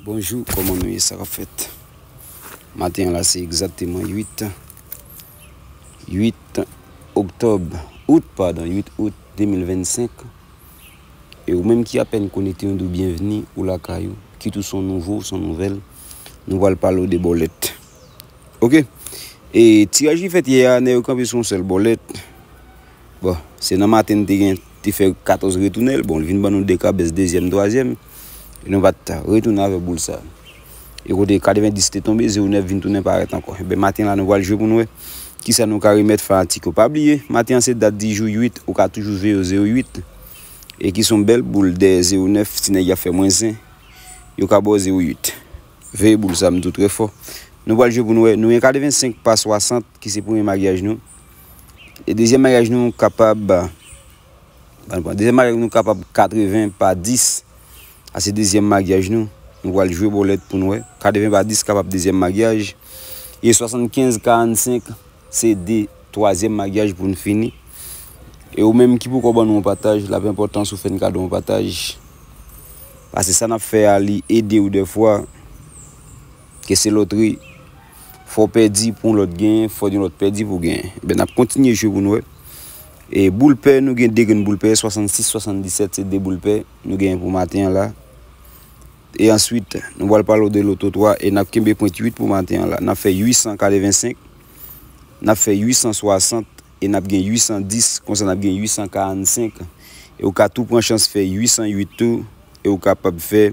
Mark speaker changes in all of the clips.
Speaker 1: Bonjou kòman nou ye sa kap fèt maten an la se egzakteman 8 8 oktòb out padon 8 out 2025 e ou menm ki apèn konekte nou di w byenvni ou lakay ou kit ou son nouvo ou son nouvèl nou pral pale w de bòlèt ok e tiraj ki fèt yè a nèg yo kanpe sou yon sèl bòlèt Bon, se nan maten n te gen, te fè 14 retounen l, bon, li vin ban nou 2 kabes dezyèm, twazyèm, e nou pa t retounen avèk boul sa. E kote 90 te tonbe, zewo nèf vin tounen parèt ankò. Enben, maten la nou pral jwe pou n wè ki sa nou ka remèt fanatik yo. Pa bliye, maten an se dat di jou 8, ou ka toujou jwe yo zewo uit, e ki son bèl boul dèyè zewo nèf, ti nèg y ap fè mwens zen, yo ka ba w zewo uit. Veye boul sa, m di w trè fò. Nou pral jwe pou n wè, nou gen 85 pa 60 ki se premye magyaj nou. E dezyèm maryaj nou kapab, dezyèm maryaj nou kapab 80 pa 10, sa se dezyèm maryaj nou, nou pral jwe bolèt pou nou wè, 80 pa 10 kapab dezyèm maryaj, e 75 45 se de twazyèm maryaj pou nou fini. E ou menm ki poko ban nou yon pataj, lap enpòtan si w fè n kado yon pataj, pase sa nap fè a li ede w dèfwa, ke se lotri. Fò w pèdi pou yon lòt genyen, fò yon lòt pèdi pou w genyen. Enben, n ap kontinye jwe pou n wè. E boul pè, nou gen 2 grenn boul pè, 66, 77, se 2 boul pè nou genyen pou maten an la. E answit, nou pral pale w de loto 3 e n ap kenbe pwent 8 pou maten an la. N ap fè 885, n ap fè 860 e n ap gen 810, konsa n ap gen 845. E ou ka tou pran chans fè 808 tou e ou kapab fè.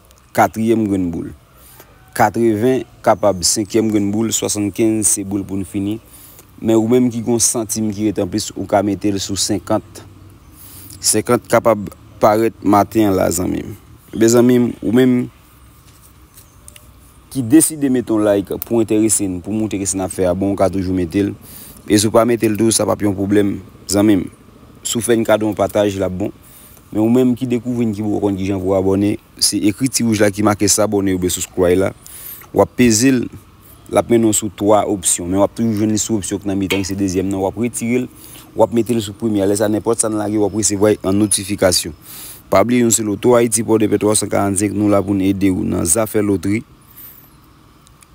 Speaker 1: katriyèm grenn boul. Katreven kapab senkyèm grenn boul, swasannkenz se boul poun fini. Men ou menm ki gon santim ki ret anplis ou ka metel sou senkant. Senkant kapab parèt maten an la zanmim. Mezanmi ou menm ki deside met yon like pou enterese'n pou moutre ke sa nap fè a bon ou ka toujou metel. E si ou pa metel tou sa pap yon pwoblèm zanmim. Si ou fè'n kado yon pataj lap bon. Men ou menm ki dekouvri n ki poko konn kijan pou abòne se ekri ti wouj la ki make s'abonner oubyen subscribe la wap peze l lap mennen w sou 3 opsyon men wap toujou jwenn li sou opsyon ki nan mitan ki se dezyèm nan wap retire l wap mete l sou premye a lè sa nenpòt sa n lage wap resevwa l an notifikasyon pa bliye yon se loto ayiti pòdepè 345 nou la pou n ede w nan zafè lotri.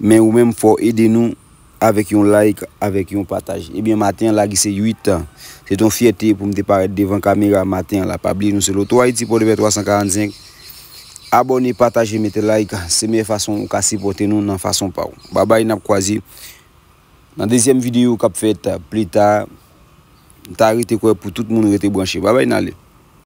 Speaker 1: Men ou menm fò w ede nou avèk yon like avèk yon pataj ebyen maten an lage se 8 tan se t yon fyète pou m te parèt devan kamera maten an la pa bliye nou se lotoayiti pòdepè 345 abòne pataje mete like se meyè fason ou ka sipòte nou nan fason pa w babay nap kwaze nan dezyèm videyo kap fèt plita m ta rete kwè pou tout moun rete branche babay n ale.